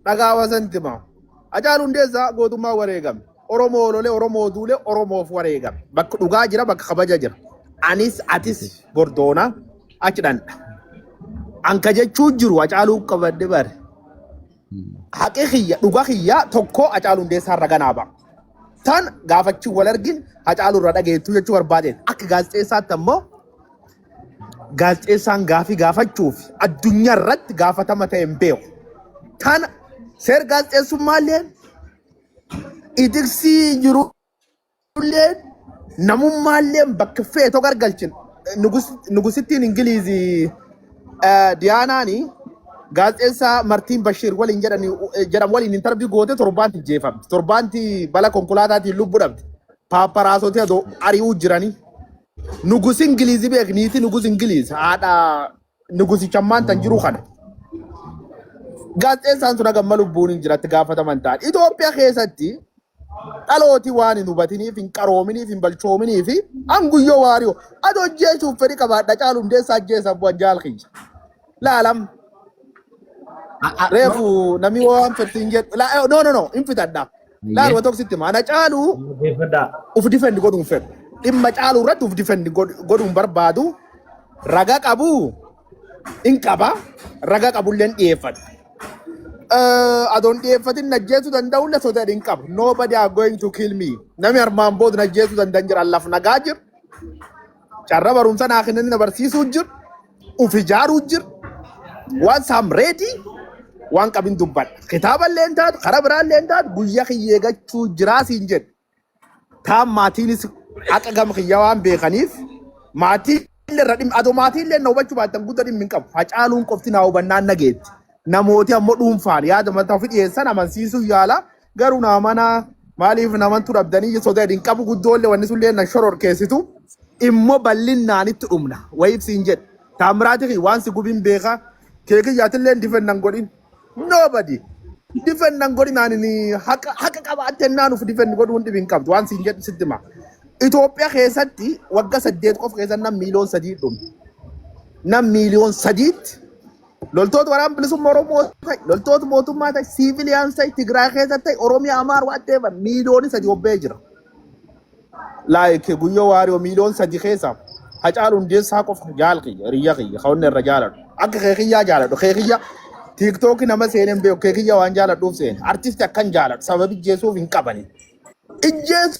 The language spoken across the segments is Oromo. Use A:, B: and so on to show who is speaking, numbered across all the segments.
A: Dhagaa wasan timaa. Hacaaluu Hundeessaa gootummaa wareegame. Oromoo lolee, Oromoo duulee, Oromoof wareegame. Bakka dhugaa jira, bakka kabaja jira. Anis atis gordoona achi dhandha. Anka jechuu jiru Hacaaluu qabadde bare. Haqi kiyya, dhuga kiyya tokko Hacaaluu Hundeessaa irra ganaa ba'a. Tan gaafachuu wal argin Hacaaluu irra dhageettuu jechuu barbaadeen. Akka gaazexeessaatti ammoo Gaazexeessaan gaafii gaafachuu fi addunyaa irratti gaafatama ta'e hin beeku. Tana seer gaazexeessummaa illee itiksii jiru illee namummaa illee bakka feetoo gargalchin nugusittiin Ingiliizii Diyaanaani gaazexeessaa Martiin Bashiir waliin jedhamu waliin intarvii goote torbaanti jeefamte. Torbaanti bala konkolaataatiin lubbu dhabde. Paaparaasootii adoo ari'uu jiranii. Nugus Ingiliizi beek niiti nugus Ingiliiz haadha nugusichammaan tan jiru kana. Gaazexeessaan sun hagamma lubbuun hin jiratti gaafataman ta'an. Itoophiyaa keessatti dhalooti waan hin hubatiniif hin qaroominiif hin balchoominii fi hanguyyoo waariyo adoo ajjeesuuf fedhi qabaadha caalu hundeessaa ajjeesa bu'an jaal kiyya. Laalam reefu namni waan fedhiin jedhu laa- no no no hin fitadha. Laal Hayyee. waan tokko sitti hima. Ana caaluu Dhaggeeffadhaa. uf difendi godhuun fedhu. Dhimma caaluu irratti uf difendi godhuun barbaadu raga qabu hin qaba. Raga qabullee hin dhiyeeffadhu. Eh, Adoon dhiyeeffatin na ajjeesuu danda'u illee sodaa hin qabu. Nobody are going to kill me. Nami armaan booda na ajjeesuu danda'an jira. Laf nagaa jiru. Carra barumsa naa kennanii na barsiisuu jir. Uf ijaaruu jir. Waan saam reedii waan qabin dubbadha. Kitaaba illee hin taatu, karaa biraa illee hin taatu guyyaa kiyya eegachuu jiraa siin jedhe. Taan maatiinis haqa gama kiyya waan beekaniif maatii illee irra dhimma adoo maatii illee na hubachuu baattan guddaa dhimmi hin qabu. Hacaaluun qofti naa hubannaan nageetti. Namooti ammoo dhuunfaan yaada mataa ofii dhiyeessan amansiisuu yaala. Garuu na amanaa maaliif namantu dhabdanii soda hin qabu guddoolle wanni sullee na shoror keessitu immoo bal'innaan itti dhumna wayiif siin jedhe taamiraati kiyya waan si gubin beeka kee kiyyaatillee difennan godhin nobody difennan godhin ani ni haqa haqa qabaatte naan uf difenn godhuun dhibi hin qabdu waan siin jedhe sitti hima Itoophiyaa keessatti wagga saddeet qofa keessa nam miiliyoon sadii dhume nam miiliyoon sadiitti Loltoota waraana bilisummaa Oromoo ta'e, loltoota mootummaa ta'e, siiviliyaans ta'e, Tigraay keessa ta'e, Oromiyaa, Amaar, Waaddeeva miiliyoonii sadii hobba'ee jira. Like guyyoo waario miliyon sadi keessa hacaalu hundeessaa qofa jaal kiyya hiriyya kiyya kawanne irra jaaladhu akka kee kiyyaa jaaladhu kee kiyya tiiktooki nama seeneen beeku kee kiyya waan jaaladhuuf seene artisti akkan jaaladhu sababi jeesuuf hin qabani ijjeessu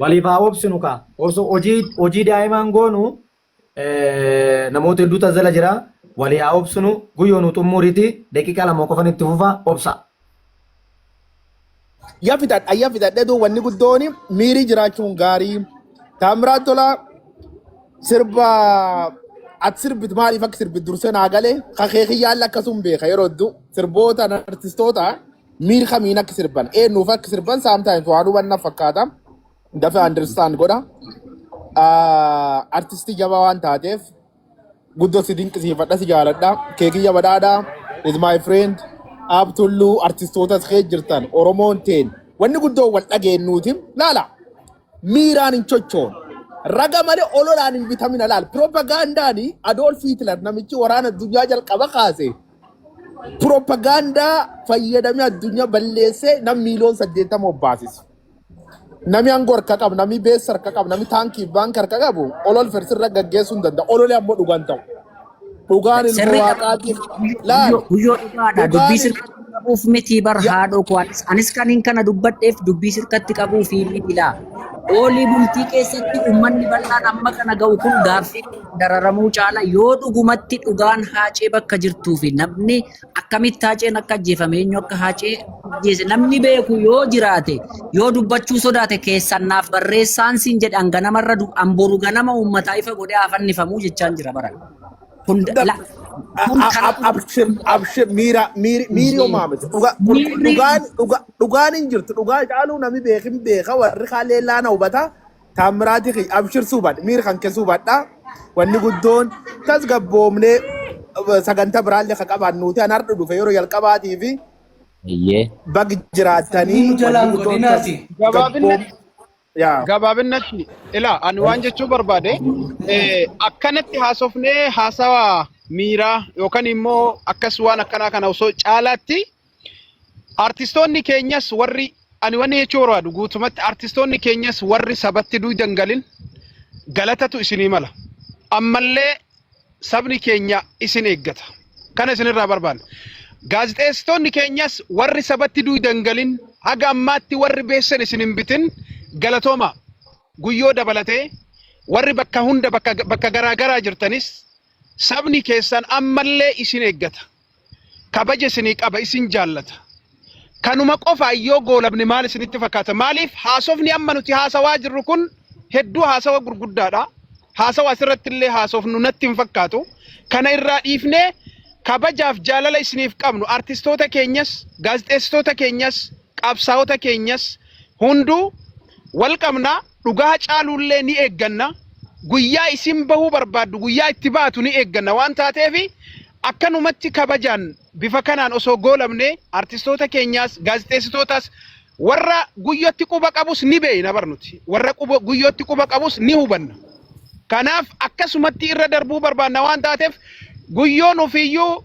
A: Waliif haa
B: obsinu kaa. Osoo hojii hojii daa'imaan goonu eh, namoota hedduu tazzala jira. Walii haa obsinu guyyoo nu xummuuriiti daqiiqaa lama qofan itti fufa obsa.
A: Ya fixadha ya fixadha duu wanni guddoon miirii jiraachuun gaarii. Taamiraat Tolaa sirba ati sirbit maaliif akka sirbit dursee naa galee kakee kiyyaan lakkasuun beeka yeroo hedduu sirboota artistoota miir kamiin akka sirban eenyuuf akka sirban sometimes waan hubanna fakkaata dafa understand godha Ah, artistii jabaa waan taateef guddoo si dinqisiifadha si jaaladha keekiyya badhaadha is my friend aab tulluu artistootas kee jirtan oromoon teen wanni guddoo wal dhageennuuti laala miiraan hin chochoon raga malee ololaan hin bitamina laal piroopagaandaani adoolf hitler namichi waraana addunyaa jalqaba kaase Piroopagaandaa fayyadamee addunyaa balleessee nam miiliyoon saddeettama obbaasise. Nami aangoo harka qabu, nami beessa harka qabu, nami taankii fi baanka harka qabu olol firsirra gaggeessuu hin danda'u. Ololi ammoo dhugaan ta'u. Dhugaan ilma Sirrii waaqaatiif laal. guyyoo guyyoo dhugaadha.
C: Dubbii Dhugaan sirkatti qabuuf miti bar ya- haadhoo koo anis anis kaniin kana dubbadheef dubbii sirkatti qabuuf miti laa. Oolii bultii keessatti uummanni bal'aan amma kana ga'u kun gaaffii dararamuu caala yoo dhugumatti dhugaan haacee bakka jirtuu fi namni akkamitti haaceen akka ajjeefame eenyu akka haacee ajjeese namni beeku yoo jiraate yoo dubbachuu sodaate keessan naaf barreessaan siin jedhe an ganamarra du- an boru ganama uummataa ifa godhee haa fannifamuu jechaan jira baran. Kun da- la- kun A- kana a- abshir
A: abshir miira miiri miiri homaa miti dhuga kun miirri dhugaan dhuga dhugaan hin jirtu dhugaa caaluu namni beekin beeka warri kaan leellaa na hubata Taammiraati kiyya abshir suubadha miir kan kee suubadha wanni guddoon tasgabboomnee eh, sagantaa biraallee kan qabaan nuuti an hardhu dhufe yeroo jalqabaatii fi Eeyyee. bag Sanyii jiraatanii nu jalaa wanni hin guddoon godhinaati.
D: tasgabboom Gabaabinnatti yaa gabaabinnatti ilaa ani waan jechuu barbaade eh, akkanatti haasofnee haasawa miiraa yookaan immoo akkas waan akkanaa kana osoo caalaatti Artistoonni keenyas warri ani wanni jechuu barbaadu guutumatti artistoonni keenyas warri sabatti duudan galin galatatu isinii mala. Ammallee sabni keenya isin eeggata. Kana isinirraa barbaanna. Gaazexeessitoonni keenyas warri sabatti duudan galin haga ammaatti warri beessan isin hin bitin galatooma guyyoo dabalatee warri bakka hunda bakka bakka garaa garaa jirtanis sabni keessan ammallee isin eeggata. kabaja isinii qaba isin jaallata kanuma qofaan yoo goolabne maal isinitti fakkaata maaliif haasofni amma nuti haasawaa jirru kun hedduu haasawa gurguddaadha haasawa asirratti illee haasofnu natti hin fakkaatu kana irraa dhiifnee kabajaaf jaalala isiniif qabnu artistoota keenyas gaazexeessitoota keenyas qabsaa'ota keenyas hunduu wal qabna Dhugaa caaluullee ni eegganna. Guyyaa isin bahuu barbaaddu guyyaa itti baatu ni eegganna waan taateef akkanumatti kabajaan bifa kanaan osoo goolabnee artistoota keenyaas gaazexeessitootaas warra guyyootti quba qabus ni beeyna bar nuti warra quba guyyootti quba qabus ni hubanna. Kanaaf akkasumatti irra darbuu barbaanna waan taateef guyyoon ofiiyyuu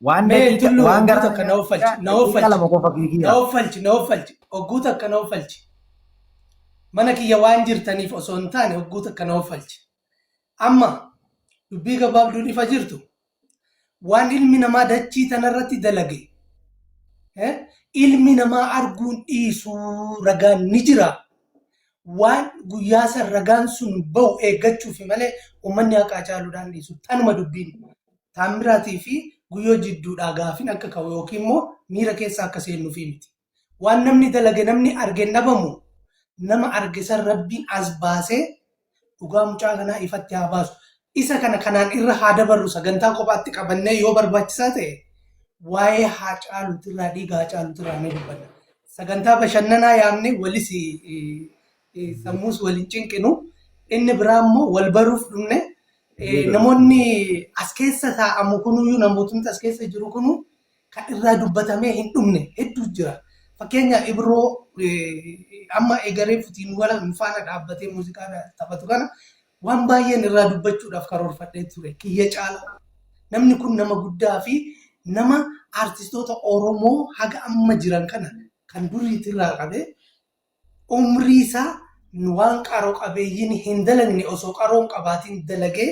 D: Waan
B: Mee daqiiqa- tulluu waan ogguu gara- takka na offalchi. Na daqiiqa offalchi. lama qofa
D: fiigiira. Na offalchi. Na offalchi. Ogguu takka na offalchi. Mana kiyya waan jirtaniif osoo hin taane ogguu takka na offalchi. Amma dubbii gabaabduun ifa jirtu waan ilmi namaa dachii tanarratti dalage eh, ilmi namaa arguun dhiisuu ragaan ni jira. Waan guyyaa san ragaan sun bahu eeggachuufi malee ummanni haqa Hacaaluudhaan dhiisu. Tanuma dubbiin. Taammiraatii fi Guyyoo jidduudhaa gaafin akka ka'u ykn immoo miira keessa akka seennufi miti. Waan namni dalage namni arge hin dhabamu. Nama arge san Rabbiin as baasee dhugaa mucaa kanaa ifatti haa baasu. Isa kana kanaan irra haa dabarru sagantaa kophaatti qabannee yoo barbaachisaa ta'e waa'ee Haacaaluutirraa dhiiga Haacaaluutirraa ni dubbanna. Sagantaa bashannanaa yaamne walis sammuus wal hin cinqinu. Inni biraa immoo wal baruuf dhumne namoonni as keessa taa'amu kunuyyuu namootni as keessa jiru kunu kan irraa dubbatamee hin dhumne hedduu jira. Fakkeenyaaf Ibroo amma egaree futiin wala faana dhaabbatee muuziqaa taphatu kana Waan baay'een irraa dubbachuudhaaf karoorfadhee ture. Kiyya caala. Namni kun nama guddaa fi nama artistoota Oromoo haga amma jiran kana kan duriitirraa qabee umrii isaa waan qaro qabeeyyiin hin dalagne osoo qaroo hin qabaatiin dalagee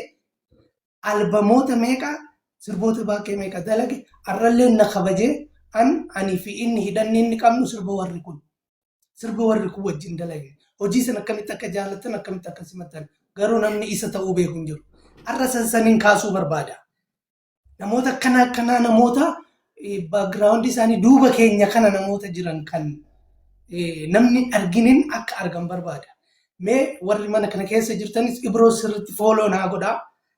D: albamoota meeqa sirboota baakee meeqa dalage arrallee na kabajee an ani fi inni hidhanni inni qabnu sirba warri kun sirba warri kun wajjin dalage hojii san akkamitti akka jaalatan akkamitti akka simatan garuu namni isa ta'uu beeku hin jiru arra san saniin kaasuu barbaada namoota akkana akkanaa namoota background isaanii duuba keenya kana namoota jiran kan eh, namni hin arginin akka argan barbaada. Mee warri mana kana keessa jirtanis ibroo sirriitti fooloo naa godhaa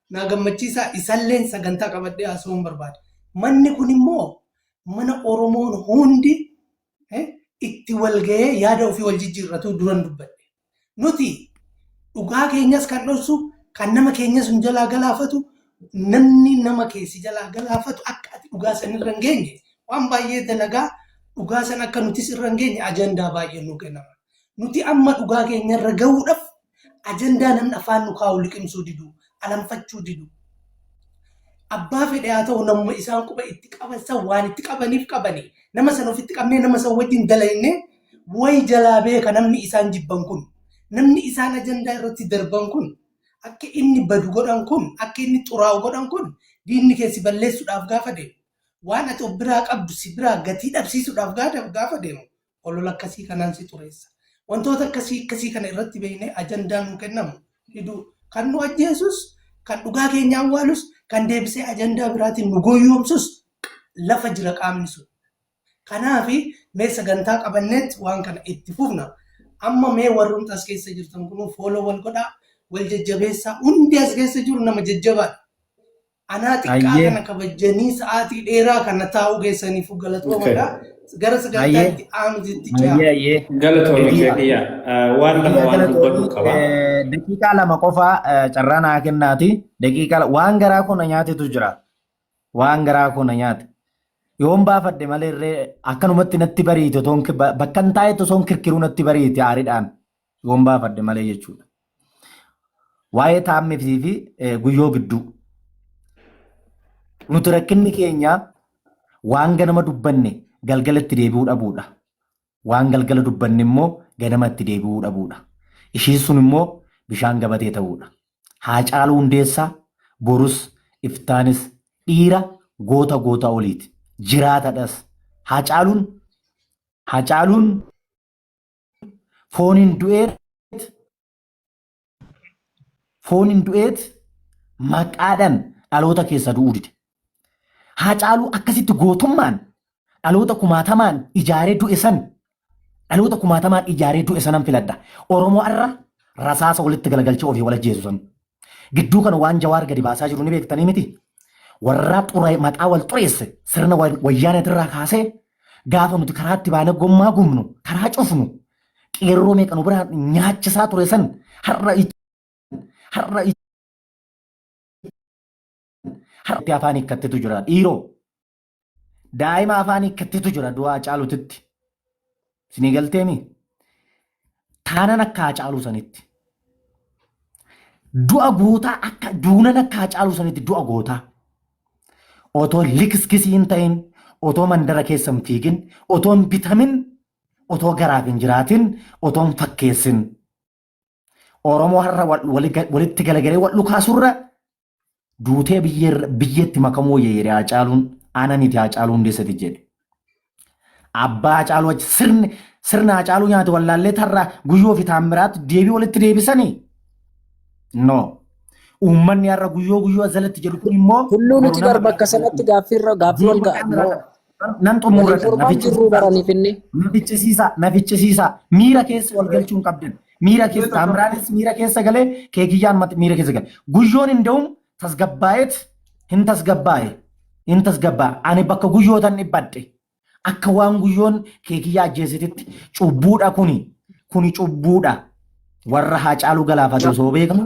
D: naa gammachiisaa isalleen sagantaa qabadhee haasa'uun barbaada. Manni kun immoo mana Oromoon hundi itti walgahee yaada ofii wal jijjiirratu duran dubbadhe. Nuti dhugaa keenyas kan dhorsu, kan nama keenyas nu jalaa galaafatu, namni nama keessi jalaa galaafatu akka ati dhugaa san irra hin geenye waan baay'ee dalagaa dhugaa san akka nutis irra hin geenye ajandaa baay'ee nu kennama. Nuti amma dhugaa keenya irra gahuudhaaf ajandaa namni afaan nu kaa'u liqimsuu didu, alanfachuu didu. Abbaa fedhe haa ta'u namuma isaan quba itti qaban san waan itti qabaniif qabani. Nama san ofitti qabnee nama san wajjin dalayne way jalaa beeka namni isaan jibban kun. Namni isaan ajandaa irratti darban kun akka inni badu godhan kun akka inni xuraa'u godhan kun diinni kee si balleessuudhaaf gaafa deemu. Waan ati of biraa qabdu si biraa gatii dhabsiisuudhaaf gaafa deemu olola akkasii kanaan si xureessa. Wantoota akkasii akkasii kana irratti beeknee ajandaa nuu kennamu ni du'u. Kan nu ajjeesus, kan dhugaa keenya awwaalus, kan deebisee ajandaa biraatiin nu gooyyoomsus lafa jira qaamni sun. Kanaaf mee sagantaa qabanneetti waan kana itti fufna. Amma mee warrumti as keessa jirtan kunuu fooloo wal godhaa, wal jajjabeessaa. Hundi as keessa jiru nama jajjabaadha. Anaa xiqqaa Hayyee. kana kabajjanii sa'aatii dheeraa kana taa'uu keessaniif galatoomadha. Gara Hayyee. sagantaatti aanuutti ce'aa. Hayyee hayyee. Galatoomi Egaa-
E: Zekiya. Waan lama Egaa waan dubbadhu galatoomi. qaba. Eh, Daqiiqaa lama
B: qofaa eh, carraa naa kennaati. Daqiiqaa la- waan garaa koo na nyaatetu jira. Waan garaa koo na nyaate. Yoon baafadhe malee irree akkanumatti natti bariite otoon ki- ba- bakka hin taa'etti osoon kirkiruu natti bariite aaridhaan. Yoon baafadhe malee jechuudha. Waa'ee taa'ammitii fi guyyoo gidduu. Nuti rakkinni keenya waan ganama dubbanne galgala itti deebi'uu dhabuudha. Waan galgala dubbanne immoo ganama itti deebi'uu dhabuudha. Ishiin sun immoo bishaan gabatee ta'uudha. Haacaaluu Hundeessaa borus iftaanis dhiira goota goota oliiti. Jiraatadhas. Haacaaluun Haacaaluun Fooniin du'eet fooniin du'eet maqaadhaan dhaloota keessa du'uu dide. Haacaaluu akkasitti gootummaan dhaloota kumaatamaan ijaaree du'e san dhaloota kumaatamaan ijaaree du'e sanan filadha. Oromoo irra rasaasa walitti galagalchee ofii wal ajjeesu san Gidduu kana waan Jawaar gadi baasaa jiru ni beektanii miti? Warraa xuree maqaa wal xureesse sirna wayyaaneetirraa kaasee gaafa nuti karaatti baanee gommaa gubnu karaa cufnu qeerroo meeqa nu biraa nyaachisaa ture san har'a har'a har'a afaan hiikkattetu jira dhiiroo. Daa'ima afaan hiikkattetu jira du'a Hacaalutitti. Isinii galteemi? Taanan akka Hacaaluu sanitti. Du'a gootaa akka duunan akka Hacaaluu sanitti du'a gootaa. Otoo likiskisii hin ta'in, otoo mandara keessa hin fiigin, otoo hin bitamin, otoo garaaf hin jiraatin, otoo hin fakkeessin. Oromoo har'a walitti galagalee wal dhukaasurra duutee biyyeetti makamuu wayya jedhe Haacaaluun ana miti Haacaaluu Hundeessati jedhe. Abbaa Haacaaluu achi sirni sirna Haacaaluu nyaate wallaallee tarraa guyyoo fi taammiraatti deebii walitti deebisanii? No. Uummanni har'a guyyoo guyyoo jalatti jedhu kun immoo. Tulluu nuti bar bakka
C: sanatti gaaffiirra gaaffii wal nan xumura
B: Waliin mormaan jirruu baranii finnee. na ficcisiisaa na ficcisiisaa miira keessa wal galchuu hin qabdan miira keessa taamiraalees miira keessa galee keekiyyaan mat- miira keessa gale guyyoon hin da'uun tasgabbaa'eet hin tasgabbaa'e hin tasgabbaa'e ani bakka guyyootan dhibbadhe akka waan guyyoon keekiyyaa ajjeesititti cubbuudha kuni kuni cubbuudha warra haacaaluu galaafate osoo beekamu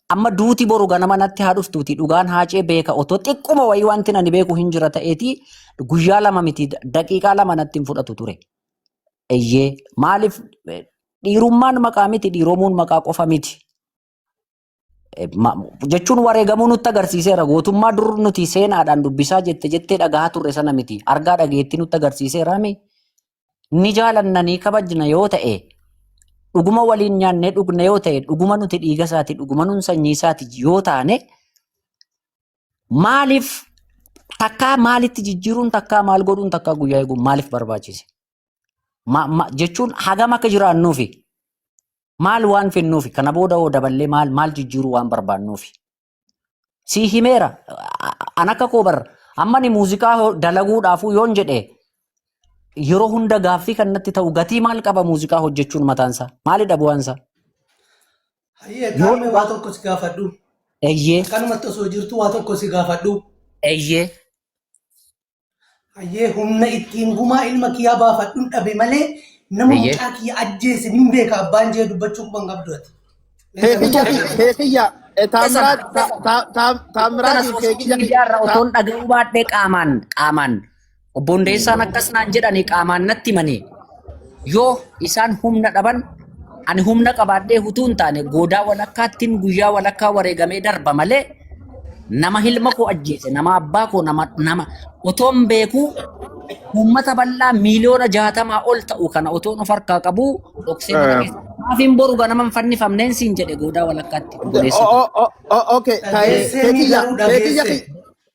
F: Amma
C: duuti boru ganama natti haa dhuftuuti dhugaan haacee beeka otoo xiqquma wayii wanti ani beeku hin jira ta'eeti guyyaa lama miti daqiiqaa lama natti hin fudhatu ture. Eyyee maaliif eh, dhiirummaan maqaa miti dhiiromuun maqaa qofa miti. Eh, ma- Jechuun wareegamuu nutti agarsiiseera gootummaa dur nuti seenaadhaan dubbisaa jette jettee dhagahaa turre sana miti argaa dhageettii nutti agarsiiseera mi ni jaalanna ni kabajna yoo ta'e dhuguma waliin nyaannee dhugna yoo ta'e dhuguma nuti dhiiga isaati dhuguma nun sanyii isaati yoo taane maaliif takkaa maalitti jijjiiruun takkaa maal godhuun takkaa guyyaa eeguun maaliif barbaachise? Ma, ma, jechuun hagam akka jiraannuufi maal waan finnuufi kana booda hoo daballee maal maal jijjiiruu waan barbaannuufi Sii himeera. A- a- An akka koo bar amma ni muuziqaa ho- dalaguudhaafuu yoon jedhe yeroo hunda gaaffii kan natti ta'u gatii maal qaba muuziqaa hojjechuun mataansaa?
D: Maalidha
C: bu'aansaa?
D: Hayyee Yoo
C: gaafii dhugaa-
D: waa tokko si
C: gaafadhu. Eyyee, Akkanumatti osoo
D: jirtu waa tokko si gaafadhu. eyyee. Hayyee humna ittiin gumaa ilma kiyyaa baafadhun dhabe malee nama Hayyee. mucaa kiyya ajjeese nin beeka abbaan jee dubbachuu quban qabdu ati. Keekiyya
A: keekiyya eh, taamiraat ta- ta- ta- taamiraatiif keekiyya Miidiyaarra ta- otoon dhaga'uu
C: baadhee qaamaan qaamaan obbo Hundeessaan akkas naan jedhanii qaamaan natti himanii Yoo isaan humna dhaban ani humna qabaadhee utuu hin taane goodaa walakkaattiin guyyaa walakkaa wareegamee darba malee nama ilma koo ajjeese nama abbaa koo nama nama otoon beekuu uummata bal'aa miiliyoona jaatamaa ol ta'u kana otoon of harkaa qabu dhoksee mana Ehm, keessa maafiin boru ganama hin fannifamneen siin jedhe goodaa walakkaatti o- obboleessa o- o- o-
A: okay, ta'ee, Keessee ni keetiyya, garuu keetiyya, dhageesse.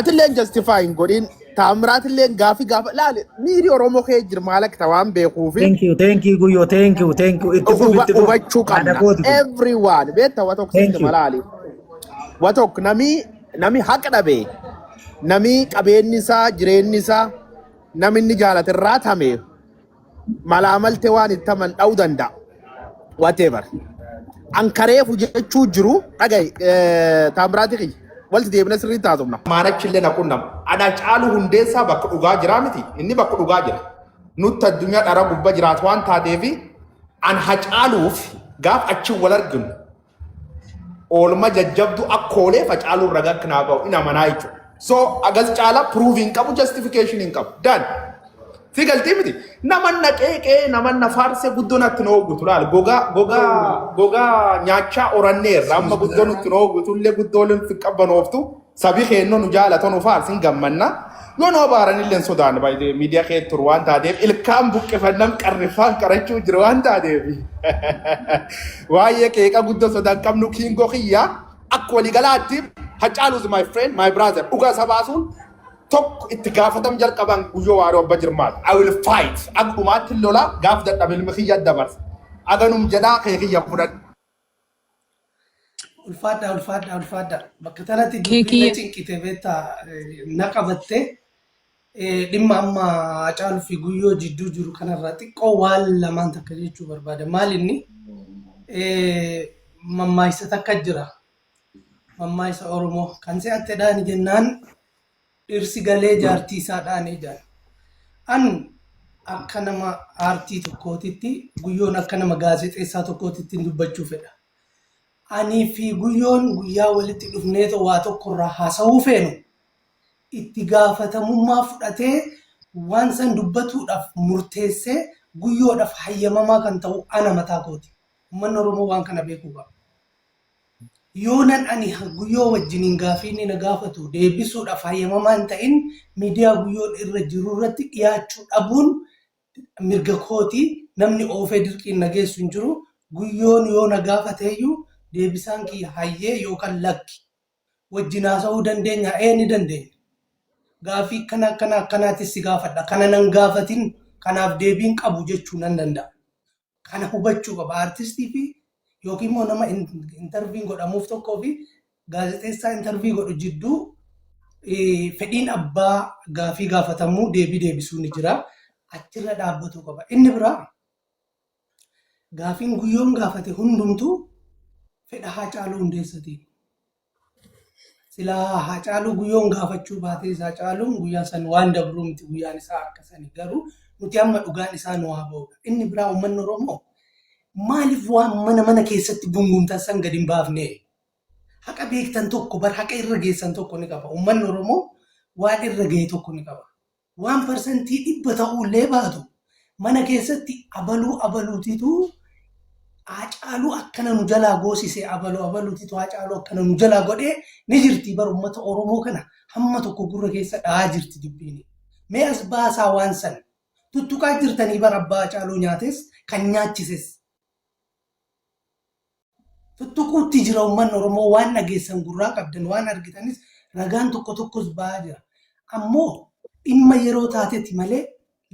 A: Atilleen justify hin godhin. Taamiraatilleen gaafii gaafa laale miiri Oromoo kee jira maal akka ta'e waan beekuufi Thank you, thank you, Guyyoo,
B: thank you, thank you. Itti fufi, huba- itti fufi. hubachuu
A: Haadha qabna. kooti kun. Everyone beekta wa tokko Thank sitti you. malaali. Wa tokko nami nami haqa dhabe nami qabeenyi isaa jireenyi isaa nami inni jaalate irraa tame malaamalte waan itti aman dha'uu danda'a. Whatever. An kareefu jechuu jiru dhaga'i taamiraati kiyya. Walti deebina sirriitti haasofna. Maanachi illee na qunnama. Ana caalu hundeessaa bakka dhugaa jiraa miti. Inni bakka dhugaa jira. Nutti addunyaa dhara gubba jiraatu waan taateef an hacaaluuf gaaf achi wal arginu. Oolma jajjabdu akkoolee facaaluu irra gakk naa ga'u in amanaa jechuudha. So agas caalaa proof hin qabu justification hin qabu. Dan. Si galtii miti. Naman na qeeqee naman na faarsee guddoo natti na hoogutu laal. Gogaa gogaa gogaa nyaachaa orannee irra amma guddoo nutti na hoogutu illee guddoo illee nutti hin qabbanooftu. Sabi keenno nu jaalata nu faarsin gammanna. Yoo nu abaaranillee hin sodaanne baay'ee miidiyaa kee turu waan taateef ilkaan buqqifannaan qarriffaan qarachuu jiru waan taateef. Waa'ee qeeqa guddoo sodaa hin qabnu kiingoo kiyya akka waliigalaatti Hacaaluus my friend my brother dhugaa isa baasuun tokko itti gaafatam jalqaban guyyoo waaroo abba jirmaat. I will fight akka dhumaatti lola gaaf dadhabe ilmi kiyya dabarsa. Aganum jedhaa kee kiyya fudhadhu. Ulfaadhaa
D: ulfaadhaa ulfaadhaa bakka tanatti dubbiin na Keekiyye. cinqite beektaa eh, na qabatte eh, dhimma amma Hacaaluu fi Guyyoo jidduu jiru kanarraa xiqqoo waan lamaan takka jechuu barbaada. Maal inni eh, mammaaksa takka jira. Mammaaksa Oromoo kan se'attedhaan jennaan Dhirsi galee jaartii isaa dhaanee jaan. An akka nama aartii tokkootitti guyyoon akka nama gaazexeessaa tokkootitti dubbachuu fedha. Anii fi guyyoon guyyaa walitti dhufneetoo waa tokko irraa haasa'uu feenu itti gaafatamummaa fudhatee waan san dubbatuudhaaf murteessee guyyoodhaaf hayyamamaa kan ta'u ana mataa kooti. Ummanni Oromoo waan kana beekuu qaba. Yoonan ani Guyyoo wajjiniin gaaffii inni na gaafatu deebisuudhaaf hayyamamaa hin ta'in miidiyaa Guyyoon irra jirurratti dhiyaachuu dhabuun mirga kooti. Namni oofee dirqiin na geessu hin jiru. Guyyoon yoo na gaafateyyuu deebisaan kiyya hayyee yookaan lakki. Wajjin haasa'uu dandeenyaa? Ee ni dandeenya. Gaaffii akkana akkana akkanaatis si gaafadha. Kana nan gaafatin kanaaf deebii hin qabu jechuu nan danda'a. Kana hubachuu qaba artistii fi yookiin immoo nama interviin godhamuuf tokkoo fi gaazexeessaa intervii godhu jidduu fedhiin abbaa gaafii gaafatamuu deebii deebisuu ni jira. Achirra dhaabbatuu qaba. Inni biraa gaafiin guyyoon gaafate hundumtuu fedha Haacaaluu Hundeessatiin. Silaa Haacaaluu Guyyoon gaafachuu baatees Haacaaluun guyyaa san waan dabruu miti guyyaan isaa akka sani garuu nuti amma dhugaan isaa nu haa ba'udha. Inni biraa uummanni Oromoo maaliif waan mana mana keessatti gungumtan san gad hin baafne? Haqa beektan tokko bar haqa irra geessan tokko ni qaba. Uummanni Oromoo waan irra ga'e tokko ni qaba. Waan parsantii dhibba ta'uullee baatu mana keessatti abaluu abaluutitu Haacaaluu akkana nu jalaa goosise, abalu abaluutitu Haacaaluu akkana nu jalaa godhe ni jirti bar ummata Oromoo kana hamma tokko gurra keessa dha'aa jirti dubbiin. Mee as baasaa waan san. Tuttuqaa jirtanii bar abbaa Haacaaluu nyaates kan nyaachises. Tuttuquutti jira uummanni Oromoo waan dhageessan gurraa qabdan waan argitanis ragaan tokko tokkos ba'aa jira. Ammoo dhimma yeroo taateti malee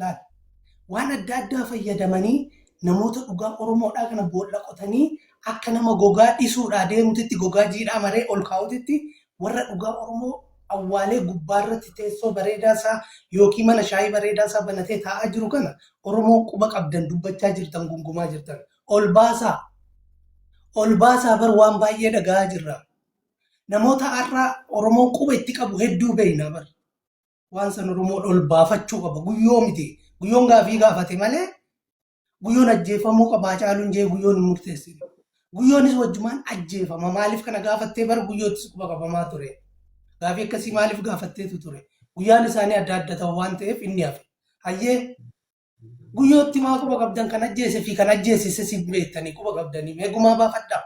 D: laal waan adda addaa fayyadamanii namoota dhugaa Oromoodhaa kana boolla qotanii akka nama gogaa dhisuudhaa deemutitti gogaa jiidhaa maree ol kaa'utitti warra dhugaa Oromoo awwaalee gubbaarratti teessoo bareedaa isaa yookiin mana shaayii bareedaa isaa banatee taa'aa jiru kana Oromoo quba qabdan dubbachaa jirtan gungumaa jirtan. ol baasaa ol baasaa bar waan baay'ee dhaga'aa jirra namoota har'aa oromoon quba itti qabu hedduu beekna bar waan san oromoon ol baafachuu qaba guyyoo miti guyyoon gaafii gaafate malee guyyoon ajjeefamuu qabaa caaluun jee guyyoon hin murteessine guyyoonis wajjumaan ajjeefama maaliif kana gaafattee bar guyyoottis quba qabamaa ture gaafii akkasii maaliif gaafatteetu ture guyyaan isaanii adda adda ta'u waan ta'eef inni hafe hayyee Guyyootti maa quba qabdan kan ajjeese fi kan ajjeesise siif beektanii quba qabdanii mee gumaa baafadhaa.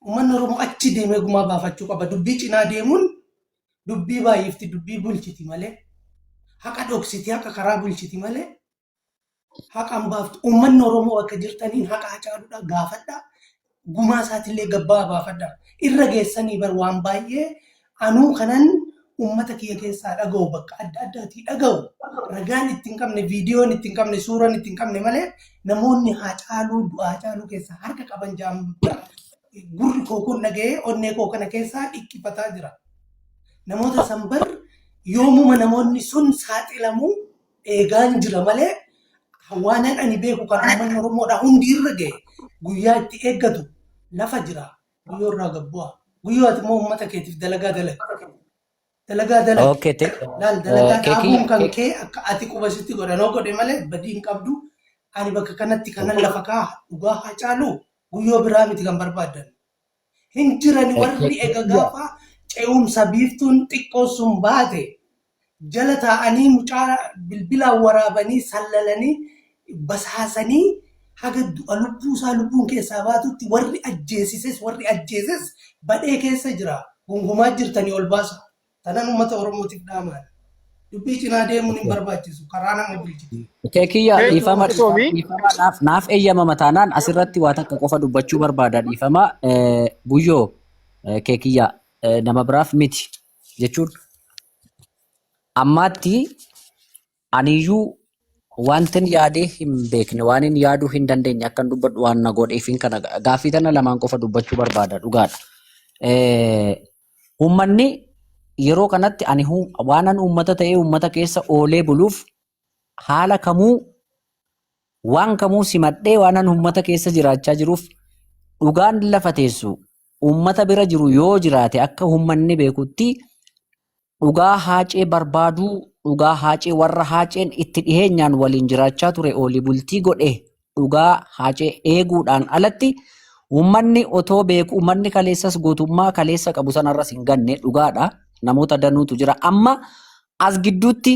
D: Uummanni Oromoo achi deemee gumaa baafachuu qaba. Dubbii cinaa deemuun dubbii baay'ifti, dubbii bulchiti malee haqa dhoksiti, haqa karaa bulchiti malee haqaan baaftu. Uummanni Oromoo akka jirtaniin haqa hacaaluudhaa gaafadhaa. gumaa isaatillee gabbaa baafadha. Irra geessanii bar waan baay'ee anuu kanan ummata kiyya keessaa dhaga'u bakka adda addaatii dhaga'u ragaan itti hin qabne viidiyoon itti hin qabne suuraan itti hin qabne malee namoonni haacaaluu du'aa haacaaluu keessaa harka qaban ja'an bar gurri koo kun dhaga'ee onnee koo kana keessaa dhiqqifataa jira. Namoota san bar yoomuma namoonni sun saaxilamuu eegaan jira malee hawaanan ani beeku kan uummanni Oromoodhaa hundi irra ga'e guyyaa itti eeggatu lafa jira. Guyyoo irraa gad bu'aa. Guyyoo ati immoo uummata keetiif dalagaa dalagi. Dalagaa dalagi. Okay, te- Laal dalagaa Kekii- dhaabuun kan kee akka ati quba sitti godhanoo godhe malee badii hin qabdu. Ani bakka kanatti kanan lafa kaa dhugaa haa caalu guyyoo biraa miti kan barbaaddan. Hin jirani warri ega gaafa ce'umsa biiftuun xiqqoo sun baate jala taa'anii mucaa bilbilaan waraabanii sallalanii basaasanii haga du'a lubbuu isaa lubbuun keessaa baatutti warri ajjeesises warri ajjeeses badhee keessa jira gungumaa jirtanii ol baasaa. Tanan uummata Oromootiif dhaamaan. Dubbii cinaa deemuun hin barbaachisu. Karaa nama bulchitu. Okee kiyya Thank you, dhiifama
C: Galatoomi. dhiifama naaf naaf eeyyamama taanaan asirratti waa takka qofa dubbachuu barbaada dhiifama eh, guyyoo eh, kee kiyya eh, nama biraaf miti jechuun ammaatti Aniyyuu wantin yaadee hin beekne waanin yaaduu hin dandeenye akkan dubbadhu waan na godheefin kana gaaffii tana lamaan qofa dubbachuu barbaada dhugaadha. Eh, Uummanni yeroo kanatti ani hu- waanan uummata ta'ee uummata keessa oolee buluuf haala kamuu waan kamuu simadhee waanan uummata keessa jiraachaa jiruuf dhugaan lafa teessu uummata bira jiru yoo jiraate akka uummanni beekutti Dhugaa Haacee barbaaduu, dhugaa Haacee warra Haaceen itti dhiheenyaan waliin jiraachaa ture oolii bultii godhe dhugaa Haacee eeguudhaan alatti uummanni otoo beeku uummanni kaleessas gootummaa kaleessa qabu sanarras hin ganne dhugaadha. Namoota danuutu jira. Amma as gidduutti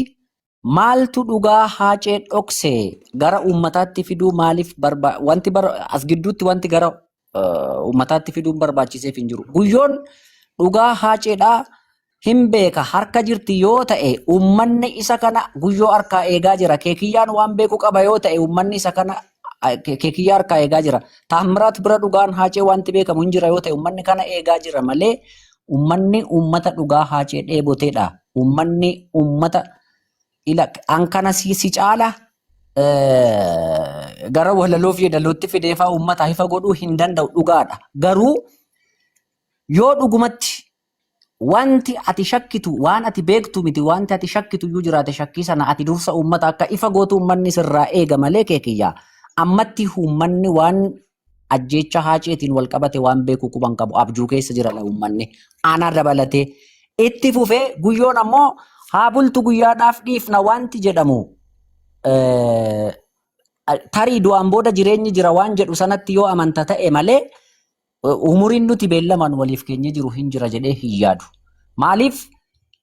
C: Maaltu dhugaa haacee dhokse gara uummataatti fiduu maaliif barba wanti bar as gidduutti wanti gara eh, uummataatti fiduun barbaachiseef hin jiru. Guyyoon dhugaa haaceedhaa hin beeka harka jirti yoo ta'e uummanni isa kana guyyoo harkaa eegaa jira. Keekiyyaan waan beeku qaba yoo ta'e uummanni isa kana ah, ke- keekiyyaa harkaa eegaa jira. Taammiraat bira dhugaan haacee wanti beekamu hin jira yoo ta'e uummanni kana eegaa jira malee Ummanni ummata dhugaa haacee dheeboteedha. Ummanni ummata ila an kana si, si caala eh, gara walaloo fi yeedalootti fideefaa ummata hifa godhuu hin danda'u dhugaadha. Garuu yoo dhugumatti wanti ati shakkitu waan ati beektu miti wanti ati shakkitu iyyuu jiraate shakkii sana ati dursa ummata akka ifa gootu ummanni sirraa eega malee kee kiyyaa ammatti ummanni waan ajjeecha haaceetiin wal qabate waan beeku quban qabu abjuu keessa jira la uummanni aanaa dabalatee itti fufee guyyoon ammoo haa bultu guyyaadhaaf dhiifna wanti jedhamu eh, tarii du'aan booda jireenyi jira waan jedhu sanatti yoo amanta ta'e malee eh, umuriin nuti beellamaan waliif keenya jiru hin jira jedhee hin yaadu maaliif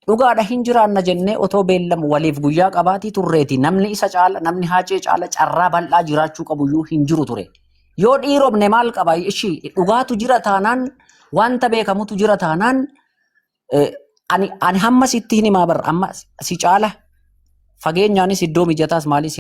C: Dhugaadha hin jiraanna jennee otoo beellam waliif guyyaa qabaatii turreeti namni isa caala namni haacee caala carraa bal'aa jiraachuu qabu iyyuu hin jiru ture. Yoo dhiiromne maal qaba ishii dhugaatu jira taanaan wanta beekamutu jira taanaan eh, ani, ani hamma sitti hin himaa barra amma si caala fageenyaanis iddoo mijataas maalis